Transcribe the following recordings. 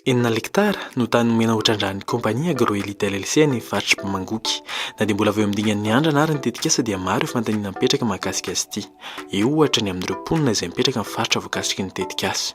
Enina lektara no tany nomena ho trandrahan'ny kompania Agroelite LLC any Varotra Bemangoky. Na dia mbola vao eo amin'ny dingan'ny andrana ary ny tetikasa dia maro ireo fanontaniana mipetraka mahakasika azy ity. Eo ohatra ny amin'ireo mponina izay mipetraka amin'ny faritra voakasiky ny tetikasa.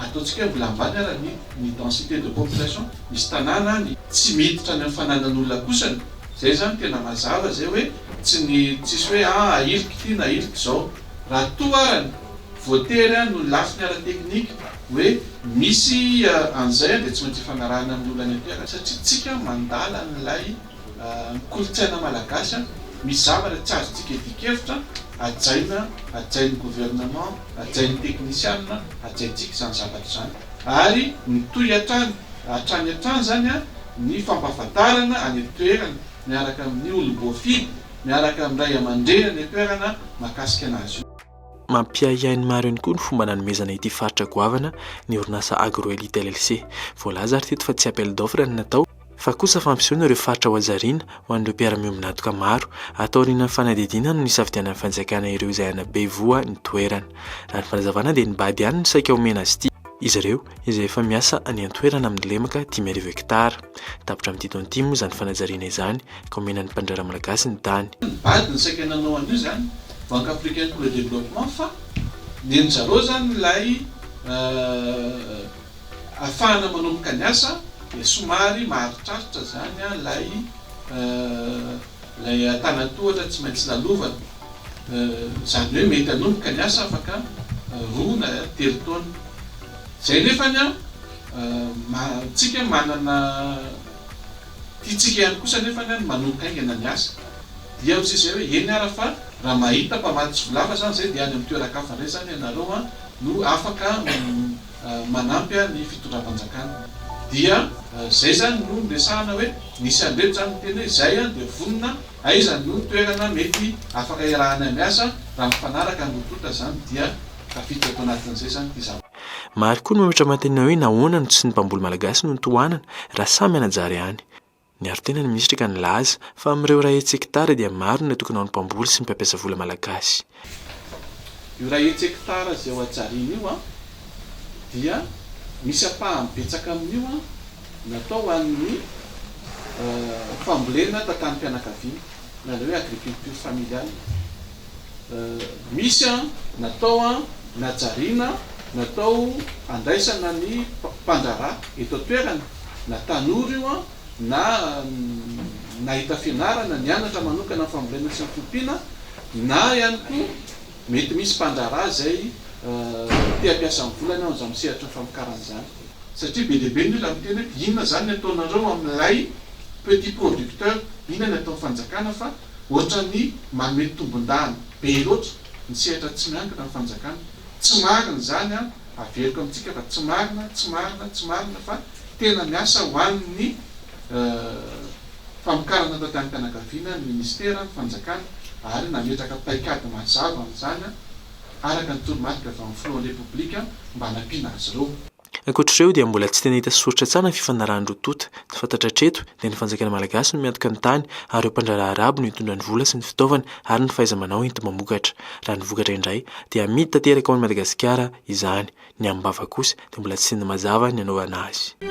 Ataontsika hoe mbola ambany ara ny ny densité de population, misy tanàna any tsy miditra any amin'ny fananan'olona kosany, izay izany tena mazava izay hoe tsy ny tsisy hoe aa ahiliky ity na ahiliky izao, raha toa ara ny voatery a noho ny lafiny ara teknika hoe misy an'izay a dia tsy maintsy ifanarahana amin'ny olona any am-piara satria tsika mandala an'ilay ny kolontsaina malagasy an! misy zavatra tsy azontsika idian-kevitra, hajaina, hajain'ny gouvernement, hajain'ny teknisianina, hajaintsika izany zavatra izany ary mitohy hatrany hatrany hatrany izany an! ny fampahafantarana any an-toerana miaraka amin'ny olom-boafidy, miaraka amin'ny ray aman-dreny any an-toerana mahakasika anazy io. Mampiahiahy ny maro ihany koa ny fomba nanomezana ity faritra goavana ny orinasa Agro Elite LLC. Voalaza ary teto fa tsy appel d'offre no natao, fa kosa fampisehoana ireo faritra hohazariana ho an'ireo mpiara-miombon'antoka maro, atao aorianan'ny fanadihadiana no nisafidianan'ny fanjakana ireo izay hanabe voa ny toerana. Raha ny fanazavana dia ny bad ihany no saika omena azy ity, izy ireo izay efa miasa any an-toerana amin'ny lemaka dimy arivo hektara. Tapitra amin'ity taona ity moa izany fanajariana izany ka omena ny mpandraharaha malagasy ny tany. Ny bad no saika nanao an'io izany, Banque Africaine pour le Développement, fa nen'ny zareo izany ilay Afahana manomboka ny asa dia somary maharitraritra izany ilay ilay an-tanan-tohatra tsy maintsy lalovana. Izany hoe mety hanomboka ny asa afaka roa na telo taona. Izay nefany an, tsika manana tiantsika ihany kosa nefany ny manomboka haingana ny asa. Dia hoy izy hoe eny ara fa raha mahita mpamatsy tsy volava izany izay dia any amin'ny toeran-kafa indray izany ianareo no afaka manampy ahy ny fitondram-panjakana dia zay zany no niresahana hoe nisy andrety zany niteny hoe zay aho dia vonona aiza no toerana mety afaka iarahanay miasa raha mifanaraka no tonta zany dia tafiditra ato anatin'izay zany ity zavatra Maro koa no mihoatra-manontaniana hoe nahoana no tsy ny mpamboly malagasy no notohanana raha samy hanajary any. Niaro tena ny minisitra ka nilaza fa amin'ireo iray hetsy hekitara dia maro ny natokana ho ny mpamboly sy ny mpampiasa vola malagasy. Io iray hetsy hekitara izay ho ajariana io dia misy ampahany betsaka amin'io natao ho an'ny fambolena tantanim-pianakaviana na ilay hoe agriculture familiale. Misy natao najariana, natao handraisana ny mpandraharaha eto an-toerana. na tanora io an, na nahita fianarana, nianatra manokana amin'ny fambolena sy ny fiompiana, na ihany koa mety misy mpandraharaha izay te hampiasa ny volany ao amin'izany sehatry ny famokarana izany. Satria be dia be ny olona miteny hoe inona izany ny ataonareo amin'ilay petit producteur, inona ny ataon'ny fanjakana fa ohatran'ny manome tombondahany be loatra ny sehatra tsy miankina ny fanjakana. Tsy marina izany an! Averiko amintsika fa tsy marina, tsy marina, tsy marina fa tena miasa ho an'ny famokarana taty amim-pianakaviana ny Minisitera, ny Fanjakana ary nametraka paikady mazava amin'izany araka ny toromarika avy amin'ny Filohan'ny Repoblika mba hanampiana azy ireo. Ankoatr'ireo dia mbola tsy tena hita sy soritra tsara ny fifanarahan-droa tonta. Ny fantatra hatreto dia ny fanjakana malagasy no miantoka ny tany ary ireo mpandraharaha arabo no hitondra ny vola sy ny fitaovana ary ny fahaiza-manao enti-mamokatra. Raha ny vokatra indray dia amidy tanteraka ao any Madagasikara izany. Ny amin'ny bava kosa dia mbola tsy ny mazava ny anaovana azy.